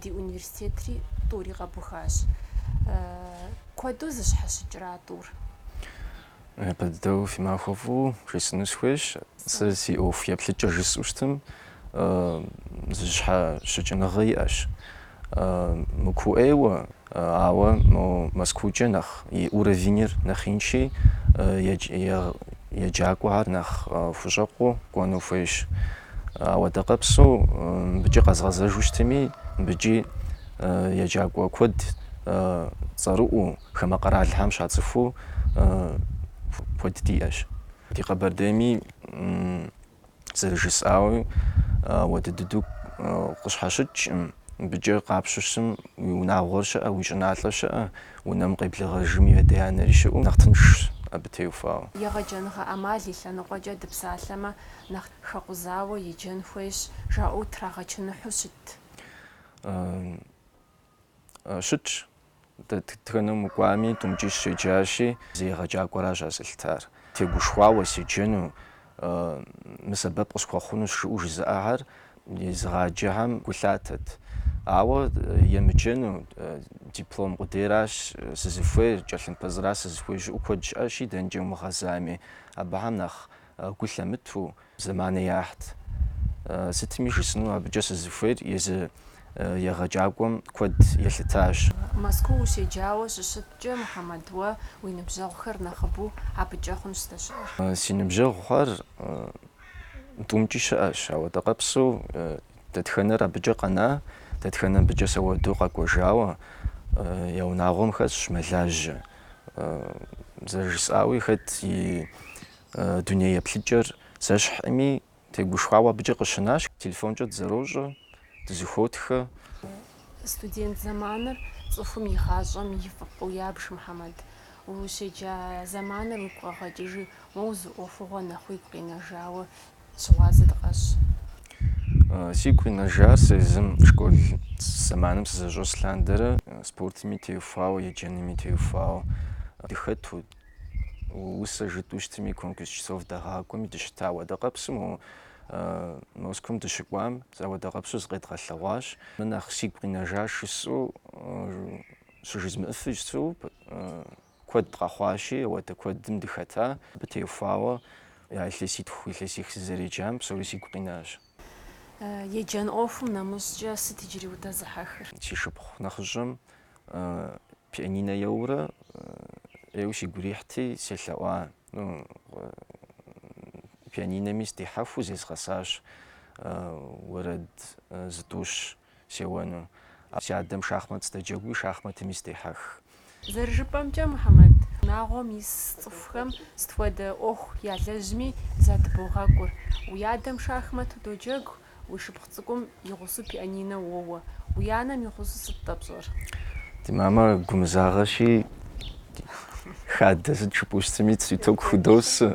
Ди университетри тӏури къэбухащ. Куэду зыщхьэщыкӏрэ а тӏур? Япэ дыдэу фи махуэ фӏыу жесӏыну схуейщ. Сэ си ӏуэху еплъыкӏэ жысӏэу щытым, зыщхьэщыкӏыныгъэ иӏэщ. Мыкуу ӏейуэ, ауэ мо Мэзкуукӏэ нэхъ и уровеньыр нэхъ инщи, еджакӏуэхэр нэхъ хущӏэкъуу кӏуэну хуейщ. Ауэдэ къэпсу мыбыкӏи къэзгъэзэжу щытми, мыбыкӏи еджакӏуэ куэд цӏэрыӏуу, хамэ къэралхэм щацӏыхуу куэд диӏэщ. Ди Къэбэрдейми зэрыжысӏауи, ауэдэ дыдэу къыщхьэщыкӏкъым. Мыбыкӏэ къапщу щытым, уи унагъуэр щыӏэ, уи щӏыналъэр щыӏэ, унэм къеблэгъэжым и адэ-анэри щыӏэу, нэхъ тыншщ абы теухуауэ. Егъэджэныгъэ ӏэмал и лъэныкъуэкӏэ дыпсалъэмэ, нэхъ хэкъузауэ еджэн хуейщ, жаӏэу трагъэчыныхьу щыт? Щытщ. Дэтхэнэм укӏуами, тӏумкӏи сщеджащи, езы егъэджакӏуэращ ар зэлъытар. Тегушхуауэ седжэну, мы сэбэп къысхуэхъунущ жыӏэу жызыӏэхэр езыгъаджэхэм гу лъатэт. Ауэ емыджэну, диплом къудейращ сызыхуейр, тхылъымпӏэ зыра сызыхуейр жыӏэу куэд щыӏэщи, дэнэкӏэ умыгъэзами, абыхэм нэхъ Гу лъамыту, зэманэ яхьт. Сытми жысӏэну абыкӏэ сызыхуейр езы егъэджакӏуэм куэд елъытащ. Мэзкуу ущеджауэ щыщыткӏэ, Мухьэмэд, уэ уи ныбжьэгъухэр нэхъыбэу абыкӏэ хъунщ здэщыӏэр? Си ныбжьэгъухэр тӏумкӏи щыӏэщ, ауэдэ къэпсу дэтхэнэр абыкӏэ къэна, дэтхэнэр абыкӏэ сэ уэду къэкӏуэжауэ я унагъуэм хэсщ мэлажьэ. Зэрыжысӏауи, хэт и Дуней еплъыкӏэр зэщхьми, тегушхуауэ абыкӏэ къыщынащ. Телефонкӏэ дызэрощӏэ, дызыхуотхэ. Студент зэманыр цӏыхум и гъащӏэм и фӏыпӏэу ябж, Мухьэмэд. Ущеджа зэманыр уигу къэгъэкӏыжи, моуэ зы ӏуэхугъуэ нэхъ уигу къинэжауэ щыгъуазэ дыкъэщӏ. Сигу къинэжар сэ езым школ зэманым сызэщӏэс лъандэрэ спортми теухуауэ, еджэнми теухуауэ дыхэту. Усэ жытӏу щытми, конкурс чтецов дагъакӏуэми дыщыта. Ауэдэ къэпсу мо Москвэм дыщыкӏуам зэ ауэдэ къэпсу зыкъедгъэлъэгъуащ. Мыр нэхъ сигу къинэжа жысӏу щыжызмыӏыфу щыту куэд къэхъуащи, ауэдэ куэдым дыхэта. Абы теухуауэ а илъэситху, илъэсих сызэреджам псори сигу къинащ. Еджэн ӏуэхум нэмыщӏкӏэ сыт иджыри удэзыхьэхыр? Си шыпхъу нэхъыщӏэм пианинэ еуэурэ ӏейуэ сигу ирихьти, селъэӏуа пианинэми сдихьэхыу зезгъэсащ уэрэд зытӏущ. Сеуэну. А си адэм шахмэт сыдоджэгуи, шахмэтми сыдехьэх. Зэрыжыпӏэмкӏэ, Мухьэмэд унагъуэм ис цӏыхухэм сыт хуэдэ ӏуэху ялэжьми задыбогъэкӏур. Уи адэм шахмэт удоджэгу, уи шыпхъу цӏыкӏум и гъусэу пианинэ уоуэ. Уи анэм и гъусэу сыт-тӏэ пщӏэр? Ди мамэ гумызагъэщи, хадэ сыт жыпӏэу щытми, зы тӏэкӏу худосэ.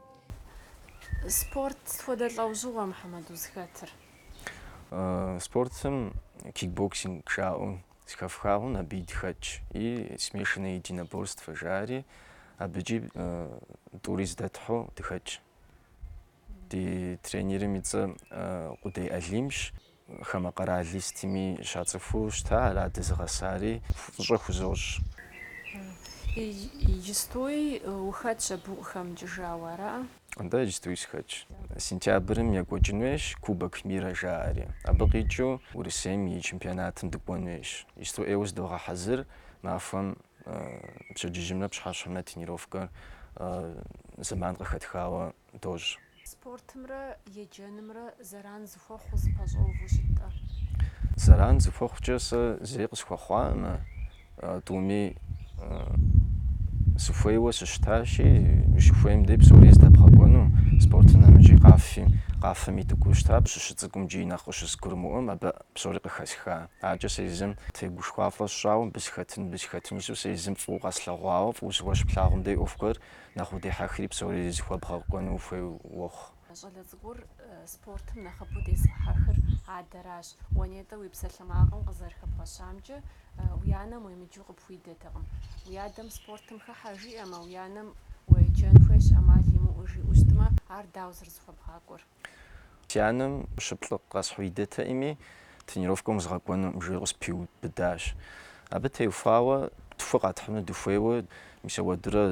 Спорт сыт хуэдэ лӏэужьыгъуэ Мухьэмэд узыхэтыр? Спортым кикбоксинг жаӏэу зыхэфха хъун, абы дыхэтщ и смешанное единоборство жаӏэри, абыкӏи тӏури зэдэтхьу дыхэтщ. Ди тренерым и цӏэ Къудей Алимщ. Хамэ къэрал сытми щацӏыхуу щыта, ара дызыгъэсари. Фӏыщӏэ хузощӏ. Иджыстуи ухэтщ абы укъыхэмыкӏыжауэ, ара? Атӏэ, иджыстуи сыхэтщ. Сентябрым екӏуэкӏын хуейщ Кубок мира жаӏэри. Абы къикӏыу Урысейм и чемпионатым дыкӏуэн хуейщ. Иджысту ӏейуэ зыдогъэхьэзыр, махуэм пщэдджыжьымрэ пщыхьэщхьэмрэ тренировкэр зэман къыхэтхауэ дощӏ. Спортымрэ еджэнымрэ зэран зыхуэхъуу зыпэщӏэуву щыт-тӏэ? Зэран зыхуэхъукӏэ сэ зэи къысхуэхъуаӏым, тӏуми сыхуейуэ сыщытащи, ущыхуейм дей псори здэбгъэкӏуэну, спортым нэмыщӏи къафи, къафэми дыкӏуэу щыта, сыщыцӏыкӏум джыри нэхъ къыщызгурымыӏуэм абы псори къыхэсха. Аркӏэ сэ езым тегушхуафӏэ сщӏауэ, мыбы сыхэтын, мыбы сыхэтын жысӏэу, сэ езым фӏыуэ къэслъэгъуауэ, фӏыуэ зыгуэр щыплъагъум дей ӏуэху гуэр Нэхъ удехьэхри псори зыхуэбгъэкӏуэну ухуей уохъу. Щӏалэ цӏыкӏур спортым нэхъыбэу дезыхьэхыр адэращ. Уэ нтӏэ уи псалъэмакъым къызэрыхэбгъэщамкӏэ, уи анэм уемыджэу къыпхуидэтэкъым. Уи адэм спортым хыхьэ жиӏэмэ, уи анэм уеджэн хуейщ, ӏэмал имыӏэу жиӏэу щытмэ, ар дауэ зэрызыхуэбгъакӏуэр? Си анэм щы, плӏы къэсхьу идэтэӏыми, тренировкэм узгъэкӏуэнукъым, жиӏэу къыспиубыдащ. Абы теухуауэ тху къэтхьыну дыхуейуэ, мис ауэдурэ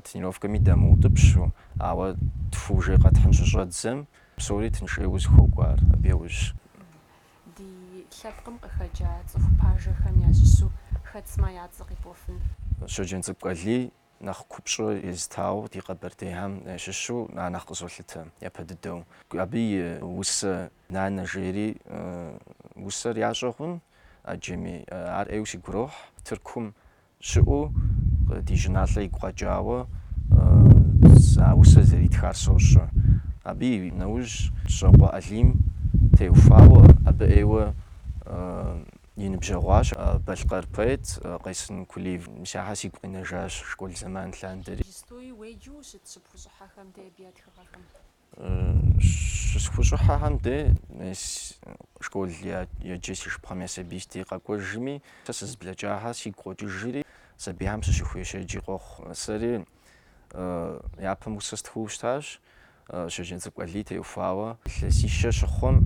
тренировкэми дамыутӏыпщу, ауэ тху ужей къэтхьын щыщӏэддзэм, псори тыншейуэ зыхуокӏуэр абы яужькӏэ. Ди лъэпкъым къыхэкӏа цӏыху пажэхэм ящыщу хэт сымэ я цӏэ къипӏуэфын? Щоджэнцӏыкӏу Алий нэхъ купщӏэ езытауэ ди къэбэрдейхэм щыщу ар нэхъ къызолъытэ япэ дыдэу. Абы и усэ Нанэ жери усэр ящӏэ хъун ӏэджэми, ар ӏейуэ сигу ирохь, Тыркум щыӏэу ди щӏыналъэ игу къэкӏауэ а усэр зэритхар сощӏэ. Абы и нэужь Кӏыщокъуэ Алим теухуауэ абы ӏейуэ И ныбжьэгъуащ балъкъэр поэт Къайсын Кулиев. Мис ахэр сигу къинэжащ школ зэман лъандэри. Иджыстуи уеджэу щыт щыпхущӏыхьэхэм де абы я тхыгъэхэм? Щысхущӏыхьэхэм де мис школ еджэ си шыпхъэм я сабий си дей къэкӏуэжми, сэ сызыблэкӏахэр сигу къокӏыжри, сабийхэм сыщыхуеджэжи къохъу. Сэри япэм усэ стхыу щытащ. Щоджэнцӏыкӏу Алий теухуауэ илъэсищэ щыхъум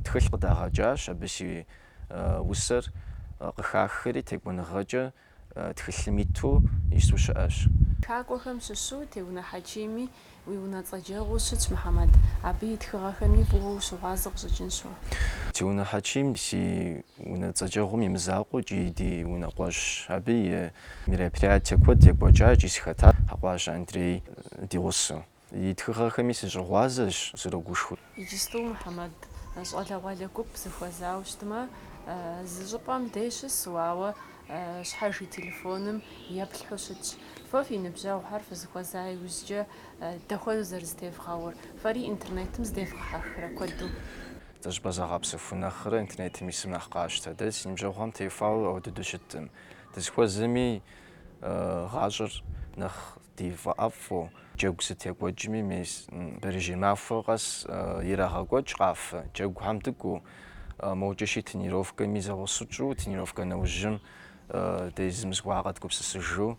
тхылъ къыдагъэкӏащ, абы си усэр къыхахри текӏуэныгъэкӏэ тхылъым иту ису щыӏэщ. Тхакӏуэхэм щыщу Теунэ Хьэчими уи унэцӏэджэгъуу щытщ, Мухьэмэд, абы и тхыгъэхэми фӏыуэ ущыгъуазэ къыщӏыкӏынщ уэ. Теунэ Хьэчим си Унэцӏэджэгъум и мызакъуэу икӏи ди унэкъуэщщ. Абы и мероприятие куэд екӏуэкӏа икӏи сыхэтащ Хьэкӏуащэ Андрей ди гъусэу. И тхыгъэхэми сыщыгъуазэщ, срогушхуэ. Иджысту Мухьэмэд щӏалэгъуалэ гуп зыхуэзауэ щытмэ, зы щӏыпӏэм дей щысу, ауэ щхьэж и телефоным еплъхьу щытщ. Фэ фи ныбжьэгъухэр фызыхуэза иужькӏэ дэхуэдэу зэрызэтевгъэувэр, фэри интернетым здевгъэхьэхрэ куэду? Зыщӏыпӏэ загъэпсэху нэхърэ интернетым исым нэхъ къащтэ. Дэ си ныбжьэгъухэм теухуауэ ауэ дыдэу щыттым. Дызыхуэзэми гъащӏэр нэхъ ди фӏэӏэфӏу, джэгу сыт екӏуэкӏми мес бэрэжьей махуэ къэс ирагъэкӏуэкӏ къафэ, джэгухэм дыкӏуу, мокӏэ щи тренировкэми зэгъусэу тщӏу, тренировкэ нэужьым де зым зыгуэр къэдгупсысыжу.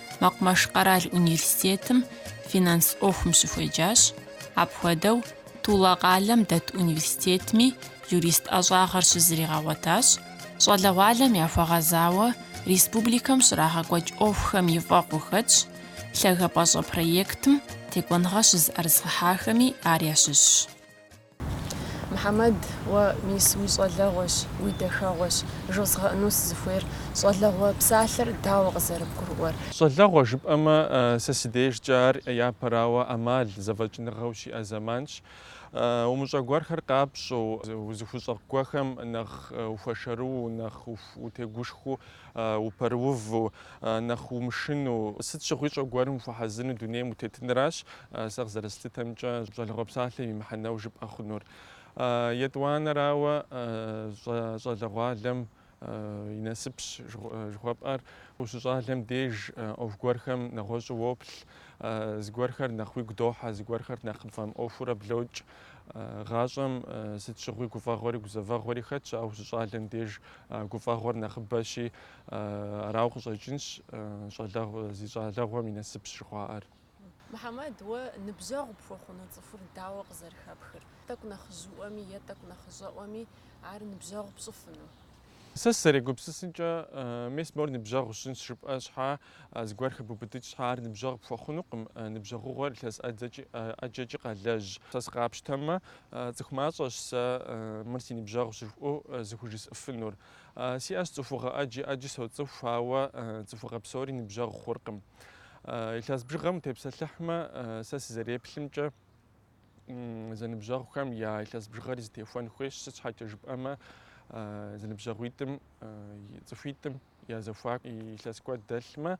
Мэкъумэш къэрал университетым финанс ӏуэхум щыхуеджащ. Апхуэдэу Тула къалэм дэт университетми юрист ӏэщӏагъэр щызригъэгъуэтащ. Щӏалэгъуалэм яхуэгъэзауэ республикэм щрагъэкӏуэкӏ ӏуэхухэм и фӏэкъу хэтщ, Лъагапӏэщӏэ проектым текӏуэныгъэ щызыӏэрызыгъэхьахэми ар ящыщщ. Мухьэмэд, уэ мис уи щӏалэгъуэщ, уи дахэгъуэщ жозгъэӏэну сызыхуейр. Щӏалэгъуэ псалъэр дауэ къызэрыбгурыӏуэр? Щӏалэгъуэ жыпӏэмэ, сэ си дежкӏэ ар япэрауэ ӏэмал зэфӏэкӏыныгъэ ущиӏэ зэманщ. Умыщӏэ гуэрхэр къапщӏэу, узыхущӏэкъу гуэрхэм нэхъ ухуэшэрыу, нэхъ утегушхуэу упэрыуву, нэхъ умышыну, сыт щыгъуи щӏэ гуэрым ухуэхьэзыну дунейм утетыныращ сэ къызэрыслъытэмкӏэ щӏалэгъуэ псалъэм и мыхьэнэу жыпӏэ хъунур. Етӏуанэрауэ, щӏалэгъуалэм и насыпщ жыхуэпӏэр, ущыщӏалэм деж ӏуэху гуэрхэм нэгъуэщӏу уоплъ, зыгуэрхэр нэхъ уигу дохьэ, зыгуэрхэр нэхъ пфӏэмыӏуэхуурэ блокӏ. Гъащӏэм сыт щыгъуи гуфӏэгъуэри гузэвэгъуэри хэтщ, ауэ ущыщӏалэм деж Гуфӏэгъуэр нэхъыбэщи, арауэ къыщӏэкӏынщ щӏалэгъу, зи щӏалэгъуэм и насыпщ жыхуаӏэр. Мухьэмэд, уэ ныбжьэгъу пхуэхъуну цӏыхур дауэ къызэрыхэпхыр? Тӏэкӏу нэхъыжьыӏуэми е тӏэкӏу нэхъыщӏэӏуэми ар ныбжьэгъу пщӏыфыну? Сэ сызэрегупсысынкӏэ, мес мор ныбжьэгъу сщӏынщ жыпӏэ щхьа, Зыгуэр хыбубыдыкӏ щхьа ар ныбжьэгъу пхуэхъунукъым, ныбжьэгъугъуэр илъэс ӏэджэкӏи къалэжь. Сэ сыкъапщтэмэ, цӏыху мащӏэщ сэ мыр си ныбжьэгъущ жысӏэу зыхужысӏыфынур. Сиӏэщ цӏыхугъэ ӏэджи, ӏэджи соцӏыху, ауэ цӏыхугъэ псори ныбжьэгъу хъуркъым. Илъэс бжыгъэм утепсэлъыхьмэ, сэ сызэреплъымкӏэ, зэныбжьэгъухэм я илъэс бжыгъэри зытехуэн хуейщ, сыт щхьэкӏэ жыпӏэмэ, зэныбжьэгъуитӏым, цӏыхуитӏым, я зэхуаку илъэс куэд дэлъмэ,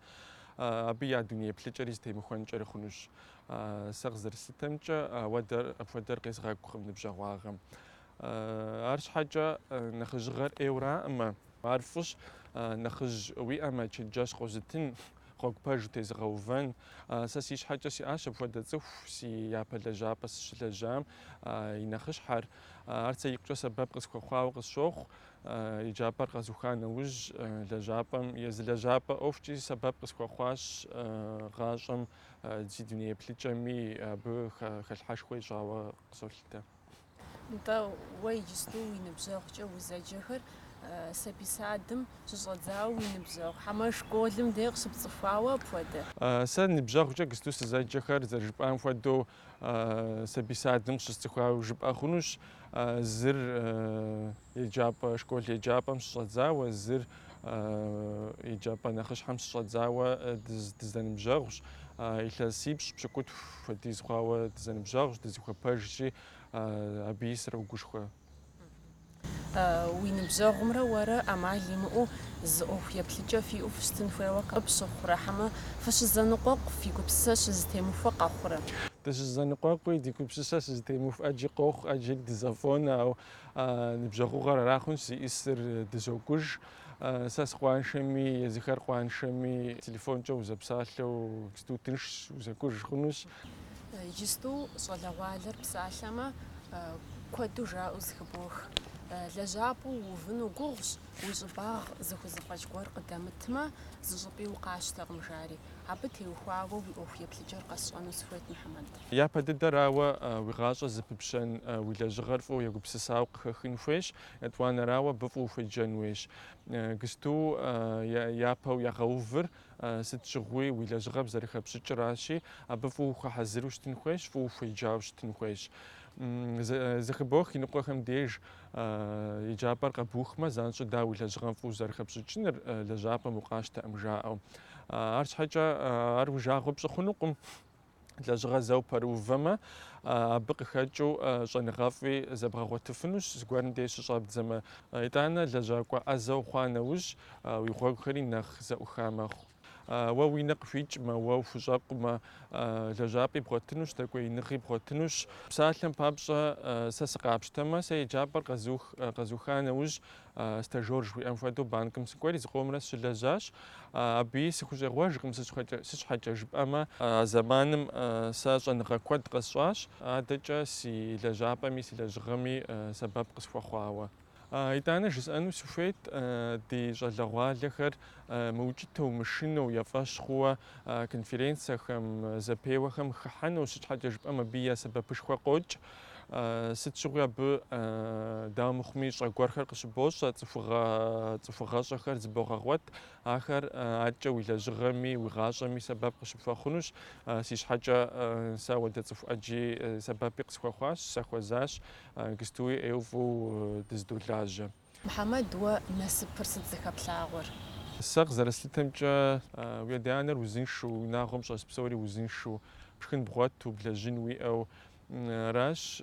абы я дуней еплъыкӏэри зытемыхуэнкӏэри хъунущ. Сэ къызэрыслъытэмкӏэ, ауэдэр апхуэдэр къезгъэкӏукъым ныбжьэгъуагъэм. Арщхьэкӏэ нэхъыжьыгъэр ӏейуэраӏым, ар фӏыщ, нэхъыжь уиӏэмэ, чэнджэщ къозытын, гъуэгу пэж утезыгъэувэн. Сэ си щхьэкӏэ сиӏащ апхуэдэ цӏыху, си япэ лэжьапӏэ сыщылэжьам и нэхъыщхьэр. Ар сэ икъукӏэ сэбэп къысхуэхъуауэ къысщохъу. Еджапӏэр къэзуха нэужь лэжьапӏэм езы лэжьапӏэ ӏуэхукӏи сэбэп къысхуэхъуащ гъащӏэм си дуней еплъыкӏэми абы хэлъхьэшхуэ ищӏауэ къысолъытэ. Нтӏэ, уэ иджысту уи ныбжьэгъукӏэ узэджэхэр сабий садым щыщӏэдзауэ уи ныбжьэгъу хьэмэ школым де къыщыпцӏыхуауэ апхуэдэ? Сэ ныбжьэгъукӏэ гысту сызэджэхэр, зэрыжыпӏам хуэдэу, Сабий садым къыщысцӏыхуауэ жыпӏэ хъунущ. Зыр еджапӏэ школ еджапӏэм щыщӏэдзауэ, зыр еджапӏэ нэхъыщхьэм щыщӏэдзауэ дызэныбжьэгъущ. Илъэсипщӏ пщыкӏутху хуэдиз хъуауэ дызэныбжьэгъущ, дызыхуэпэжщи, абыи срогушхуэ. Уи ныбжьэгъумрэ уэрэ ӏэмал имыӏэу зы ӏуэху еплъыкӏэ фиӏэу фыщытын хуейуэ къыпщыхъурэ, хьэмэ фыщызэныкъуэкъу фи гупсысэр щызытемыхуэ къэхъурэ? Дыщызэныкъуэкъуи, ди гупсысэр щызэтемыхуэ ӏэджи къохъу, ӏэджэри дызэфӏонэ, ауэ ныбжьэгъугъэр ара хъунщ зиӏисыр, дызокӏуж. Сэ сыкъуаншэми, езыхэр къуаншэми, телефонкӏэ узэпсалъэу сыту тыншщ, узэкӏуж хъунущ. Иджысту щӏалэгъуалэр псалъэмэ, куэду жаӏэу зыхыбох. Лэжьапӏэ уувыну гугъущ, уи щӏыбагъ зыхузэфӏэкӏ гуэр къыдэмытмэ, зыщӏыпӏи укъащтэкъым, жари. Абы теухуауэ уи ӏуэху еплъыкӏэр къэсщӏэну сыхуейт, Мухьэмэд. Япэ дыдэрауэ уи гъащӏэр зыпыпщӏэн, уи лэжьыгъэр фӏыуэ егупсысауэ къыхэхын хуейщ, етӏуанэрауэ абы фӏыуэ хуеджэн хуейщ. Гысту япэу ягъэувыр Сыт щыгъуи уи лэжьыгъэм зэрыхэпщӏыкӏыращи, абы фӏыуэ ухуэхьэзыру щытын хуейщ, фӏыуэ ухуеджауэ щытын хуейщ. Зэхыбох иныкъуэхэм деж еджапӏэр къэбухмэ, занщӏэу дауэ уи лэжьыгъэм фӏыуэ зэрыхэпщӏыкӏыныр лэжьапӏэм укъащтэӏым жаӏэу. Арщхьэкӏэ ар уи жагъуэ пщӏы хъунукъым. лэжьыгъэ зэ упэрыувэмэ, абы къыхэкӏыу щӏэныгъэфӏи зэбгъэгъуэтыфынущ, зыгуэрым деж щыщӏэбдзэмэ. Итӏанэ лэжьакӏуэ ӏэзэ ухъуа нэужь, уи гъуэгухэри нэхъ зэӏуха мэхъу. Уэ уи нэ къыхуикӏмэ, уэ ухущӏэкъумэ, лэжьапӏи бгъуэтынущ, дэкӏуеиныгъи бгъуэтынущ. Псалъэм папщӏэ, сэ сыкъапщтэмэ, сэ еджапӏэр къэзуха нэужь, Стажёр жыхуиӏэм хуэдэу банкым сыкӏуэри зыкъомрэ сыщылэжьащ. Абыи сыхущӏегъуэжкъым, сыт щхьэкӏэ жыпӏэмэ, а зэманым сэ щӏэныгъэ куэд къэсщӏащ, адэкӏэ си лэжьапӏэми си лэжьыгъэми сэбэп къысхуэхъуауэ. Итӏанэ жысӏэну сыхуейт, ди щӏалэгъуалэхэр мыукӏытэу, мышынэу, я фӏэщ хъууэ конференцэхэм, зэпеуэхэм хыхьэну, сыт щхьэкӏэ жыпӏэмэ абы я сэбэпышхуэ къокӏ. Сыт щыгъуи абы, дауэ мыхъуми, щӏэ гуэрхэр къыщыбощӏэ, цӏыхугъэ, цӏыхугъэщӏэхэр зыбогъэгъуэт. Ахэр адкӏэ уи лэжьыгъэми, уи гъащӏэми сэбэп къыщыпхуэхъунущ. Си щхьэкӏэ сэ ауэдэ цӏыху ӏэджи сэбэпи къысхуэхъуащ, сахуэзащ, гыстуи ӏейуэ фӏыуэ дыздолажьэ. Мухьэмэд, уэ насыпыр сыт зыхэплъагъуэр? Сэ къызэрэслъытэмкӏэ, уи адэ-анэр узыншэу, уи унагъуэм щӏэс псори узыншэу, пшхын бгъуэту, блэжьын уиӏэу аращ.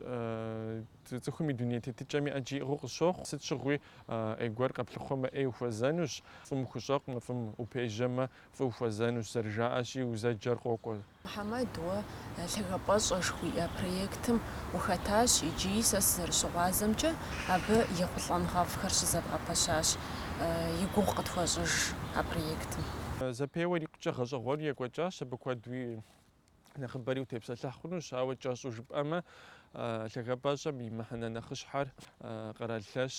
Цӏыхум и дуней тетыкӏэми ӏэджи иӏыгъыу къысщохъу. Сыт щыгъуи ӏей гуэр къэплъыхъуэмэ, ӏей ухуэзэнущ, фӏым ухущӏэкъумэ, фӏым упежьэмэ, фӏы ухуэзэнущ, зэрыжаӏэщи, узэджэр къокӏуэ. Мухьэмэд, уэ Лъагапӏэщӏэ жыхуиӏэ проектым ухэтащ икӏи, сэ сызэрыщыгъуазэмкӏэ, абы ехъулӏэныгъэфӏхэр щызэбгъэпэщащ. И гугъу къытхуэщӏыж а проектым. Зэпеуэр икъукӏэ гъэщӏэгъуэну екӏуэкӏащ, абы куэдуи нэхъыбэри утепсэлъыхь хъунущ, ауэ кӏэщӏу жыпӏэмэ, Лъагапӏэщӏэм и мыхьэнэ нэхъыщхьэр къэрал лъэщ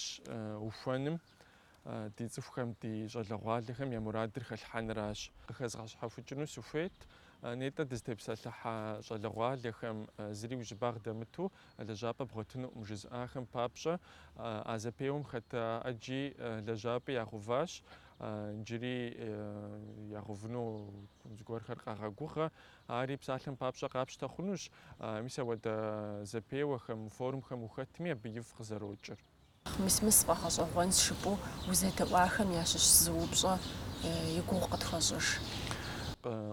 ухуэным, ди цӏыхухэм, ди щӏалэгъуалэхэм я мурадыр хэлъхьэныращ. Къыхэзгъэщхьэхукӏыну сыхуейт, нетӏэ дызытепсэлъыхьа щӏалэгъуалэхэм зыри уи щӏыбагъ дэмыту лэжьапӏэ бгъуэтынуӏым жызыӏахэм папщӏэ, а зэпеуэм хэта ӏэджи лэжьапӏи ягъэуващ, иджыри ягъэувыну зыгуэрхэр къагъэгугъэ. Ари псалъэм папщӏэ къапщтэ хъунущ, мис ауэдэ зэпеуэхэм, форумхэм ухэтми абы ифӏ къызэрокӏыр. Мис-мис сфӏэгъэщӏэгъуэнщ жыпӏэу узэдэӏуахэм ящыщ зы упщӏэ и гугъу къытхуэщӏыж.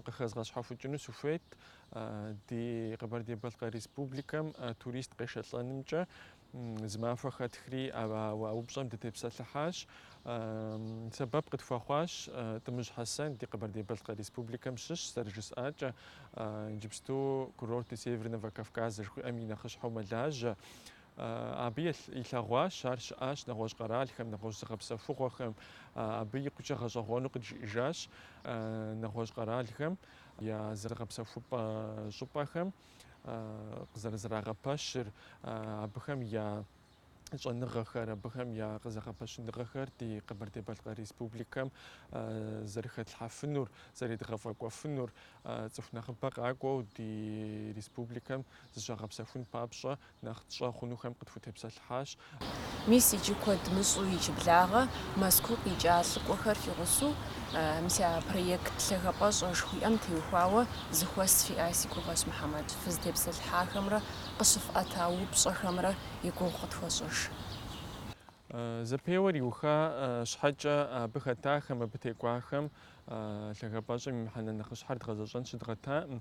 Къыхэзгъэщхьэхукӏыну сыхуейт ди Къэбэрдей-Балъкъэр Республикэм турист къешэлӏэнымкӏэ. Зы махуэ хэтхри а упщӏэм дытепсэлъыхьащ. Сэбэп къытхуэхъуащ Тӏымыжь Хьэсэн ди Къэбэрдей-Балъкъэр Республикэм щыщ, зэрыжысӏакӏэ, иджыпсту Курорты Северного Кавказа жыхуиӏэм и нэхъыщхьэу мэлажьэ. Абы илъэгъуащ ар щыӏащ нэгъуэщӏ къэралхэм, нэгъуэщӏ зыгъэпсэхугъуэхэм, абы икъукӏэ гъэщӏэгъуэну къыджиӏэжащ нэгъуэщӏ къэралхэм я зыгъэпсэхупӏэ щӏыпӏэхэм къызэрызэрагъэпэщыр, абыхэм я щӏэныгъэхэр, абыхэм я къызэгъэпэщыныгъэхэр ди Къэбэрдей-Балъкъэр Республикэм зэрыхэтлъхьэфынур, зэредгъэфӏэкӏуэфынур, цӏыху нэхъыбэ къакӏуэу ди республикэм зыщагъэпсэхун папщӏэ Нэхъ тщӏэ хъунухэм къытхутепсэлъыхьащ. Мис иджы куэд мыщӏу иджыблагъэ Мэзкуу къикӏа лӏыкӏуэхэр фигъусу мис а проект лъагапӏэщӏэ жыхуиӏэм теухуауэ зэхуэс фиӏа си гугъэщ Мухьэмэд, фызытепсэлъыхьахэмрэ къыщыфӏэта упщӏэхэмрэ и гугъу къытхуэщӏыж. Зэпеуэр иуха щхьэкӏэ абы хэтахэм, абы текӏуахэм лъагапӏэщӏэм и мыхьэнэ нэхъыщхьэр дгъэзэщӏэн щыдгъэтакъым.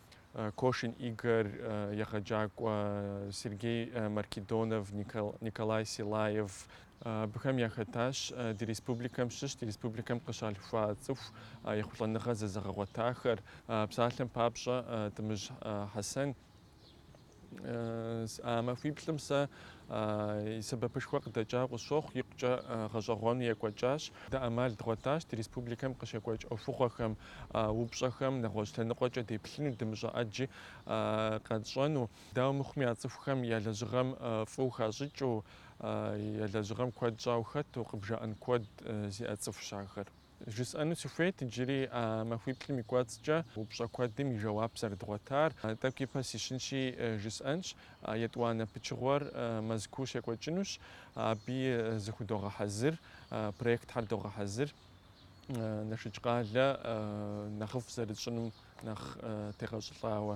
Кошин Игорь, егъэджакӏуэ Сергей Маркедонов, Николай Силаев, Абыхэм яхэтащ ди республикэм щыщ, ди республикэм къыщалъхуа цӏыху ехъулӏэныгъэ зэзыгъэгъуэтахэр. Псалъэм папщӏэ, Тӏымыжь Хьэсэн А махуиплӏым сэ и сэбэпышхуэ къыдэкӏауэ къысщохъу, икъукӏэ гъэщӏэгъуэну екӏуэкӏащ. Дэ ӏэмал дгъуэтащ ди республикэм къыщекӏуэкӏ ӏуэхугъуэхэм, упщӏэхэм нэгъуэщӏ лъэныкъуэкӏэ деплъыну, дымыщӏэ ӏэджи къэтщӏэну. Дауэ мыхъуми, а цӏыхухэм я лэжьыгъэм фӏыуэ хащӏыкӏыу, я лэжьыгъэм куэд щӏауэ хэту къыбжаӏэн куэд зиӏэ цӏыхущ ахэр. Жысӏэну сыхуейт иджыри а махуиплӏым и кӏуэцӏкӏэ упщӏэ куэдым и жэуап зэрыдгъуэтар. Тӏэкӏу ипэ сищынщи, жысӏэнщ, етӏуанэ пычыгъуэр Мэзкуу щекӏуэкӏынущ, абы зыхудогъэхьэзыр, проектхэр догъэхьэзыр, Налшык къалэ нэхъыфӏ зэрытщӏынум нэхъ тегъэщӏылӏауэ.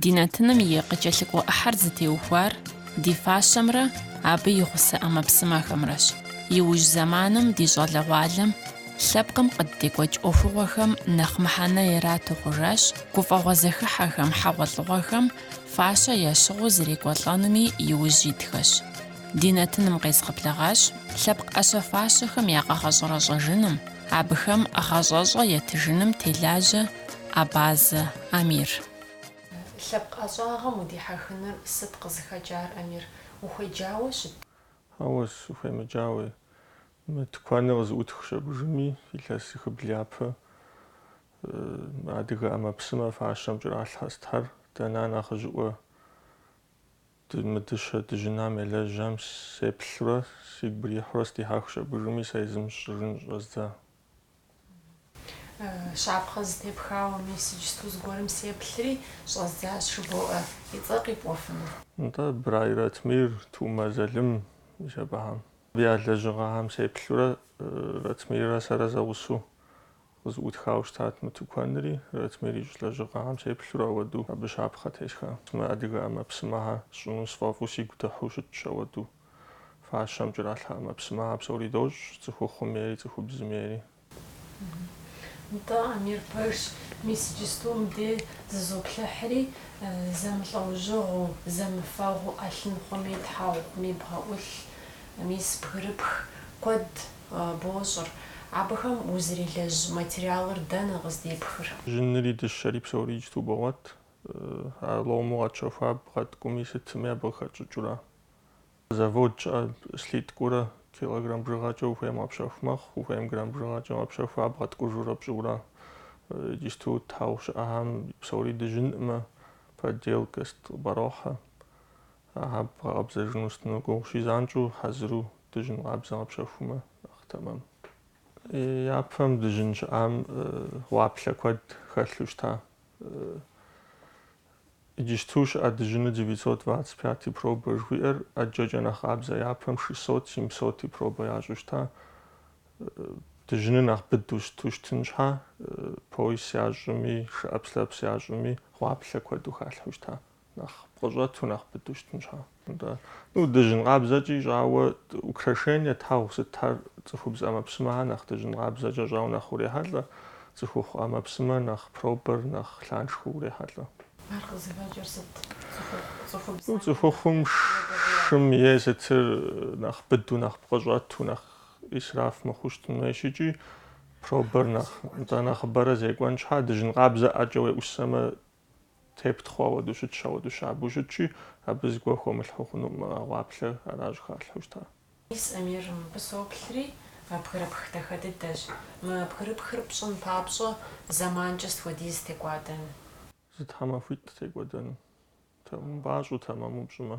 Ди нэтыным и къыкӏэлъыкӏуэ ӏыхьэр зытеухуар ди фащэмрэ абы и гъусэ ӏэмэпсымэхэмрэщ. Иужь зэманым ди щӏалэгъуалэм лъэпкъым къыддекӏуэкӏ ӏуэхугъуэхэм нэхъ мыхьэнэ ирату хъужащ гуфӏэгъуэ зэхыхьэхэм, хьэгъуэлӏыгъуэхэм фащэ ящыгъыу зэрекӏуэлӏэнуми иужь итхэщ. Ди нэтыным къезгъэблэгъащ лъэпкъ ӏэщэ фащэхэм я къэгъэщӏэрэщӏэжыным, абыхэм гъащӏэщӏэ етыжыным телажьэ Абазэ Амир. Лъэпкъ ӏэщӏагъэм удихьэхыныр сыт къызыхэкӏар, Амир? Ухуеджауэ щыт? Хьэуэ, сыхуемыджауэ. Мы тыкуэныр къызыӏутх щабыжыми, илъэсихыбл япэ адыгэ ӏэмэпсымэ фащэм кӏэралъхьэ сытхьэр, дэ нэхъ нэхъыжьыӏуэ мы дыщэ дыжьынам елэжьам сеплъурэ, сигу бырихьурэ сдихьэх щабыжыми, сэ езым щӏыжын щӏэздза. Щапхъэ зытепхауэ мис иджысту зыгуэрым сеплъри, щӏэздзащ жыбоӏэ. И цӏэр къипӏуэфыну? Нтӏэ, Брай Ратмир, Тумэ Залым, мис абыхэм я лэжьыгъэхэм сеплъурэ, Ратмиррэ сэрэ зэгъусэу къызыӏутхауэ щытат мы тыкуэнри. Ратмир ищӏ лэжьыгъэхэм сеплъурэ ауэдэу абы щапхъэ тесха. Мы адыгэ ӏэмэпсымэхэр сщӏыну сфӏэфӏу сигу дыхьу щытщ ауэдэу. фащэм кӏэралъхьэ ӏэмэпсымэхэр псори дощӏ, цӏыхухъум ейри, цӏыхубзым ейри. Нтӏэ, Амир пэжщ, мис иджысту мыбдеж зызоплъыхьри, зэмылӏэужьыгъуу, зэмыфэгъуу ӏэлъын хъуми, тхьэгъу хъуми, бгъэӏулъ, мис бгырыпх куэд бощӏыр. Абыхэм узырелэжь материалыр дэнэ къыздепхыр? Дыжьынри дыщэри псори иджысту богъуэт, а лому къэтщэхуа бгъэткӏуми сытми абы къыхэтщӏыкӏыурэ Завод щыӏэ, слиткэурэ килограмм бжыгъэкӏэ ухуейм къэпщэху мэхъу, ухуейм грамм бжыгъэкӏэ къэпщэху, ар бгъэткӏужурэ пщӏыурэ. Иджысту тхьэгъу щыӏэхэм псори дыжьынӏымэ, подделка къыпӏэрохьэ. Ахэр бгъэкъэбзэжыну сытыну гугъущи, занщӏэу хьэзыру дыжьын къабзэ къэпщэхумэ нэхъ тэмэм. Япэм дыжьын щыӏам гъуаплъэ куэд хэлъу щыта. Иджысту щыӏэ дыжьыныр девятьсот двадцать пяти пробэ жыхуиӏэр ӏэджэкӏэ нэхъ къабзэ япэм шестьсот семьсоти пробэ ящӏу щыта. Дыжьыныр нэхъ быдэу сыту щытын щхьэ, пояс ящӏми, шыӏэпслъэпс ящӏми, гъуаплъэ куэду халъхьэу щыта, нэхъ пкъыщӏэту нэхъ быдэу щытын щхьэ. Нтӏэ. Ну, дыжьын къабзэкӏи щӏауэ украшение тхьэгъу сытхэр цӏыхубз ӏэмэпсымэхэр нэхъ дыжьын къабзэкӏэ щӏауэ нэхъ урехьэлӏэ, цӏыхухъу ӏэмэпсымэ нэхъ пробэр нэхъ лъаншхуэу урехьэлӏэ. Ар къызыхэкӏыр сыт? Цӏыхухъум шым е сытыр нэхъ быдэу, нэхъ пкъы щӏэту, нэхъ исраф мыхъуу щытын хуейщ икӏи пробэр нэхъ, нтӏэ, нэхъыбэрэ зекӏуэн щхьа, дыжьын къабзэ ӏэкӏэ уеӏусэмэ, Тептхъуэ ауэдэу щытщ, ауэдэу щабэу щытщи, абы зыгуэр хыумылъхьэу хъунукъым, а гъуаплъэр аращ халъхьэу щытар. Мис, Амир, мыбы соплъри, бгырыпх дахэ дыдэщ. Мы бгырыпхыр пщӏын папщӏэ зэманкӏэ сыт хуэдиз текӏуэдэну? Зы тхьэмахуитӏ текӏуэдэну. Умыпӏащӏэу, тэмэму пщӏымэ.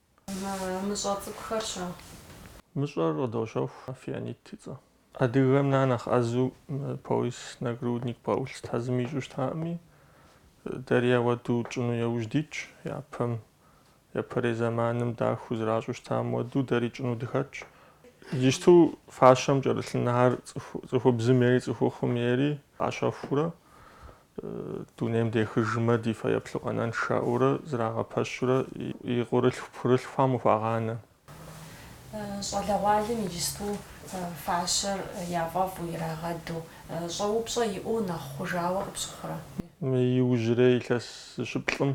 Мыщӏэ цӏыкӏухэр-щэ? Мыщӏэр къыдощэху фианит и цӏэ. Адыгэхэм я нэхъ ӏэзу пояс, нагрудник, бгъэӏулъ тазым ищӏу щытами, дэри ауэду тщӏыну еужь дитщ, япэм, япэрей зэманым дахэу зэращӏу щытам хуэдэу дэри тщӏыну дыхэтщ. Иджысту фащэм кӏэрылъынхэр цӏыхубзым ейри цӏыхухъум ейри къащэхуурэ, Дунейм дехыжмэ, ди фэеплъу къэнэнщ жаӏэурэ зрагъэпэщурэ и къуэрылъху пхъурылъхухэм къыхуагъанэ. Щӏалэгъуалэм иджысту фащэр яфӏэфӏу ирагъэду, щӏэупщӏэ иӏэу нэхъ хъужауэ къыпщыхъурэ? Мы иужьрей илъэс зыщыплӏым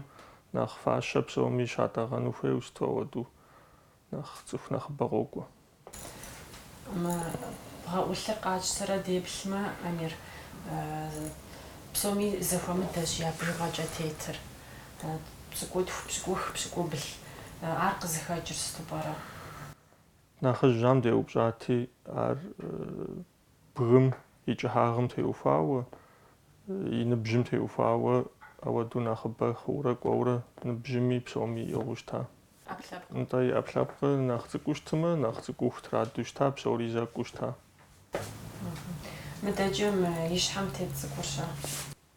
нэхъ фащэ псоми щатӏэгъэну хуейуэ сыту ауэду. Нэхъ цӏыху нэхъыбэ къокӏуэ. Мы бгъэӏулъыр къатщтэрэ деплъмэ, Амир, псоми зэхуэмыдэщ я бжыгъэкӏэ тетыр. Пщыкӏутху, пщыкӏух, пщыкӏубл. Ар къызыхэкӏыр сыту пӏэрэ? Нэхъыжьхэм деупщӏати, ар Бгым и кӏыхьагъым теухуауэ, и ныбжьым теухуауэ ауэдэу нэхъыбэ хъуурэ кӏуэурэ ныбжьыми псоми иӏыгъыу щыта. ӏэпкълъэпкъым. Нтӏэ, и ӏэпкълъэпкъыр нэхъ цӏыкӏуу щытымэ, нэхъ цӏыкӏуу хутрадэу щыта, псори зэкӏуу щыта. Мыдэкӏэ мы и щхьэм тет цӏыкӏур-щэ?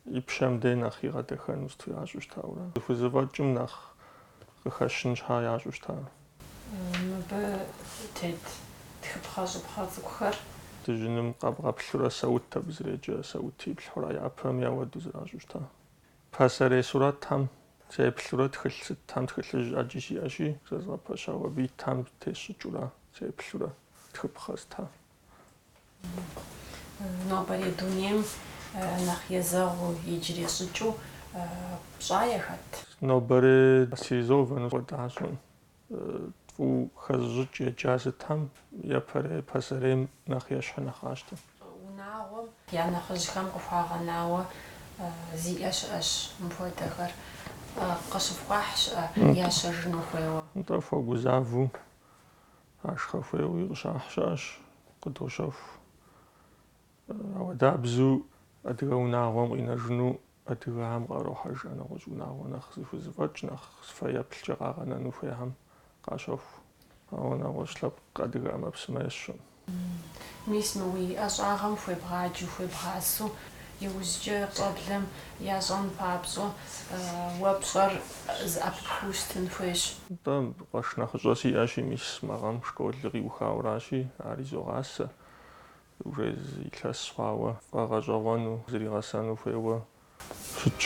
и пщэм дей нэхъ игъэдэхэну сыту ящӏу щытауэра. Зыхузэфӏэкӏым нэхъ къыхэщын щхьэ ящӏу щыта? Мыбы тет тхыпхъэщӏыпхъэ цӏыкӏухэр. Дыжьыным къэбгъэплъурэ, саут абы зреджэ, саут иплъхьэурэ япэм ауэду зэращӏу щыта? Пасэрей сурэтхэм сеплъурэ тхылъ сытхэм, тхылъыжь ӏэджи сиӏэщи, зэзгъэпэщауэ, абы итхэм тесщӏыкӏыурэ сеплъурэ тхыпхъэ сытхэр Нобэрей дунейм нэхъ езэгъыу иджыри щӏыкӏэу пщӏа, е хэт нобэрей стилизованнэу хуэдэ ящӏэм, фӏыуэ хэзыщӏыкӏ еджа сытхэм япэрей пасэрейм нэхъ ещхьу нэхъ къащтэ. Унагъуэм я нэхъыжьхэм къыхуагъэнауэ зиӏэ щыӏэщ мыпхуэдэхэр. Къыщыфхуахь щыӏэ ящэжыну хуейуэ? Нтӏэ, хуэгузавэу Ашхъэ хуейуи къыщахь щыӏэщ, къыдощэху. Ауэдабзу адыгэ унагъуэм къинэжыну адыгэхэм къарохьэж а нэгъуэщӏ унагъуэ нэхъ зыхузэфӏэкӏ, нэхъ фэеплъкӏэ къагъэнэну хуейхэм къащэху. Ауэ нэгъуэщӏ лъэпкъ адыгэ ӏэмэпсымэ есщэркъым. Мис мы уи ӏэщӏагъэм хуебгъаджу, хуебгъасу, иужькӏэ щӏэблэм Ящӏэн папщӏэ, уэ пщӏэр зэӏэпыпхыу щытын хуейщ. Нтӏэ, къуэш нэхъыщӏэ сиӏэщи, мис мы гъэм школыр къиухауэращи, ар изогъасэ. Уже илъэс хъуауэ, фӏэгъэщӏэгъуэну, зригъэсэну хуейуэ щытщ.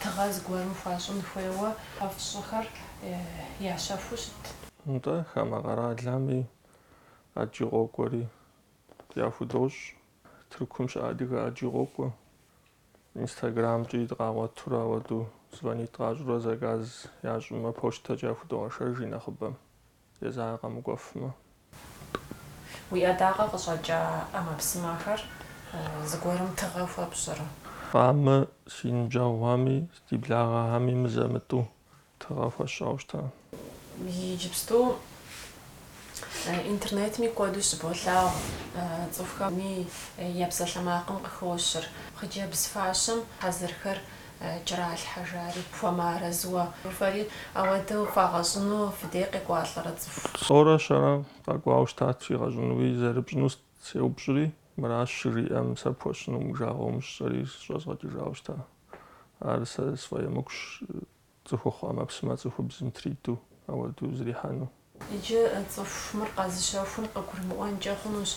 Тыгъэ зыгуэрым хуащӏын хуейуэ фщӏыхэр ящэхуу щыт? Нтӏэ, хамэ къэралами, ӏэджи къокӏуэри яхудощӏ. Тыркум щыӏэ адыгэ ӏэджи къокӏуэ. Инстаграмкӏи дыкъагъуэтурэ ауэдэу звонить къащӏурэ заказ ящӏымэ, почтэкӏэ яхудогъэшэж и нэхъыбэм, езыхэр къэмыкӏуэфмэ. Уи ӏэдакъэ къыщӏэкӏа ӏэмэпсымэхэр зыгуэрым тыгъэ хуэпщӏрэ? Хамэ, си ныбжьэгъухэми, ди благъэхэми мызэ-мытӏу Тыгъэ хуэсщӏауэ щыта. Иджыпсту интернетми куэду щыболъагъу цӏыхухэми я псалъэмакъым къыхощыр. Хъыджэбз фащэм хьэзырхэр кӏэралъхьэжари, хуэмыарэзыуэ фэри ауэдэу фагъэщӏыну фыдей къекӏуалӏэрэ цӏыху? Тӏорэ щэрэ къэкӏуауэ щытат иригъэщӏынуи, зэрыпщӏыну сеупщӏри, мыращ щыжиӏэм сэ пхуэсщӏынуӏым, жагъуэ умыщӏ жысӏэри щӏэзгъэкӏыжауэ щыта. Ар сэ сфӏэемыкӏущ цӏыхухъу ӏэмэпсымэ цӏыхубзым триту ауэдэу зрихьэну. Иджы цӏыху мыр къэзыщэхум къыгурымыӏуэнкӏэ хъунущ.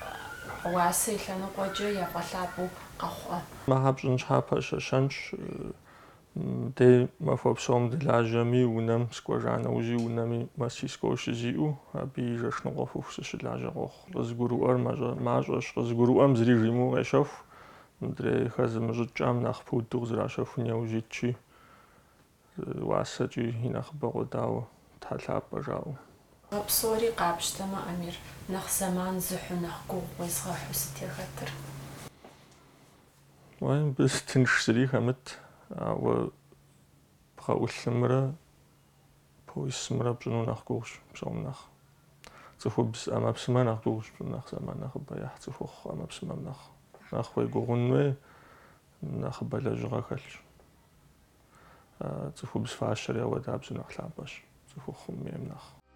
Уасэ и лъэныкъуэкӏэ яфӏэлъапӏэу къэхъурэ? Мыхэр пщӏын щхьэ пэщэщэнщ. Дэ махуэ псом дылажьэми, унэм сыкӏуэжа нэужьи, унэми мастерской щызиӏэу, абы и жэш ныкъуэ хъуху сыщылажьэ къохъу. Къызыгурыӏуэр мащӏэщ. Къызыгурыӏуэм зыри жимыӏэу къещэху. Мыдрей хэзымыщӏыкӏам нэхъ пуду къызэращэхун яужь итщи, уасэкӏи и нэхъыбэ къодауэ, щхьэ лъапӏэ жаӏэу. А псори къапщтэмэ, Амир, нэхъ зэман зыхьу, нэхъ гугъу уезыгъэхьу сыт яхэтыр? Уей, мыбы тынш зыри хэмыт, ауэ бгъэӏулъымрэ Поисымрэ пщӏыну нэхъ гугъущ псом нэхъ. Цӏыхубз ӏэмэпсымэ нэхъ гугъущ пщӏыну нэхъ зэман нэхъыбэ ехь цӏыхухъу ӏэмэпсымэм нэхъ. Нэхъ уегугъун хуей, нэхъыбэ лэжьыгъэ хэлъщ. Цӏыхубз фащэр яуэдабзэу нэхъ лъапӏэщ цӏыхухъум ейм нэхъ.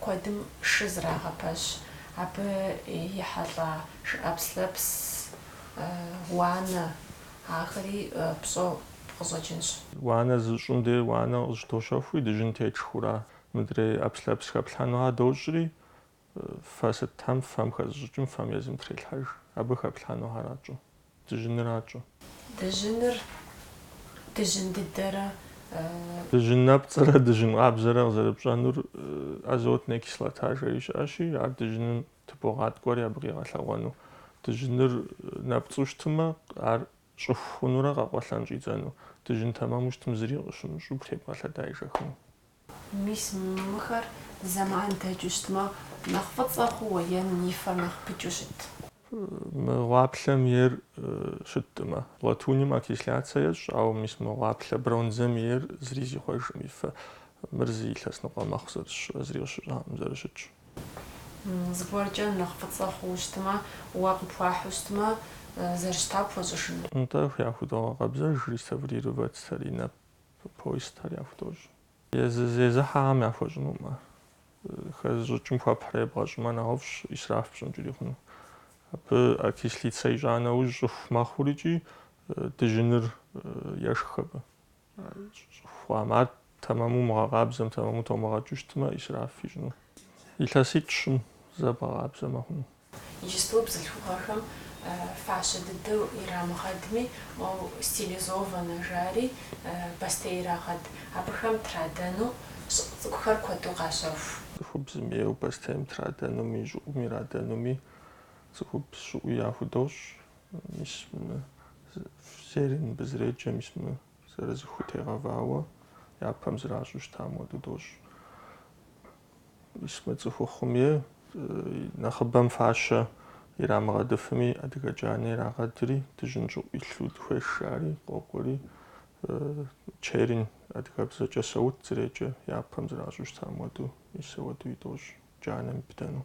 Куэдым шы зрагъэпэщ, абы ехьэлӏа шы ӏэпслъэпс, уанэ, ахэри пщӏэу къыщӏэкӏынщ. Уанэ зыщӏым де уанэ къыщыдощэхури, дыжьын тетщӏыхьура, мыдрей ӏэпслъэпс хэплъхьэнухэр дощӏри, фэ сытхэм, фэм хэзыщӏыкӏым, фэм езым трелъхьэж, абы хэплъхьэнухэра тщӏы. Дыжьыныращ-тӏэ. Дыжьыныр дыжьын дыдэрэ. Дыжьын нэпцӏрэ дыжьын къабзэрэ къызэрыпщӏэнур азотнэ кислота жери щыӏэщи, ар дыжьыным тыбогъаткӏуэри абы къигъэлъэгъуэну. Дыжьыныр нэпцӏу щытымэ, ар щӏыху хъунурэ къэкъуэлъэн щӏидзэну. Дыжьын тэмэму щытым зыри къыщымыщӏу, тебгъэлъэда ежэхыну. Мис мыхэр зэман дэкӏыу щытмэ, нэхъ фӏыцӏэ хъууэ е и фэр нэхъ пыкӏыу щыт? Мы гъуаплъэм ейр щыттӏымэ, латуным окисляться ещӏ, ауэ мис мы гъуаплъэ бронзэм ейр зыри зихъуэжым и фэ. Мыр зы илъэс ныкъуэ мэхъу зэрысщӏа, зыри къыщыщӏакъым зэрыщытщ. Зыгуэркӏэ нэхъ фӏыцӏэ хъууэ щытмэ, уэ къыпхуахьу щытмэ, зэрыщыта пхуэщӏыжыну? Нтӏэ, яхудогъэкъэбзэж, реставрировать стариннэ. Поясхэр яхудощӏ. Езы зезыхьэхэм яхуэщӏынумэ, хэзыщӏыкӏым хуэпхьрэ ебгъэщӏымэ нэхъыфӏщ исраф пщӏынкӏэри хъуну. Абы окислиться ищӏа нэужь щӏыху мэхъури икӏи дыжьыныр ешх абы. Щӏыху хъуам. Ар тэмэму умыгъэкъабзэм, тэмэму томыгъэкӏыу щытмэ, исраф ищӏыну. Илъэситӏ-щым зэ бгъэкъабзэмэ хъуну. Иджыпсту бзылъхугъэхэм фащэ дыдэу ирамыгъэдми, моу стилизованэ жари бостей ирагъэд, абыхэм традэну щӏыӏу цӏыкӏухэр куэду къащэху. Цӏыхубзым ейуэ бостейм традэнуми, щӏыӏум ирадэнуми цӏыхубз щӏыӏуи яхудощӏ, мис мы зернь дызреджэ, мис мы Зырызыххэу тегъэвауэ япэм зращӏу щытам хуэдэу дощӏ. Мис мы цӏыхухъум и нэхъыбэм фащэ ирамыгъэдыфми, адыгэ джанэ ирагъэдри, дыжьын щӏыӏу илъу дыхуейщ жари, къокӏуэри, чернь адыгэбзэкӏэ саут зреджэ, япэм зращӏу щытам хуэдэу, мис ауэдэуи дощӏ, джанэм ибдэну.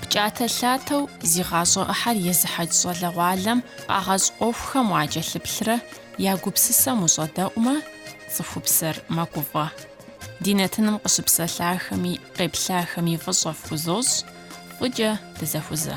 Пкӏатэ-лъатэу зи гъащӏэ ӏыхьэр езыхьэкӏ щӏалэгъуалэм къагъэщӏ ӏуэхухэм уакӏэлъыплърэ я гупсысэм ущӏэдэӏумэ, цӏыхупсэр мэгуфӏэ. Ди нэтыным къыщыпсэлъахэми, къеплъахэми фӏыщӏэ фхузощӏ, фӏыкӏэ дызэхузэ.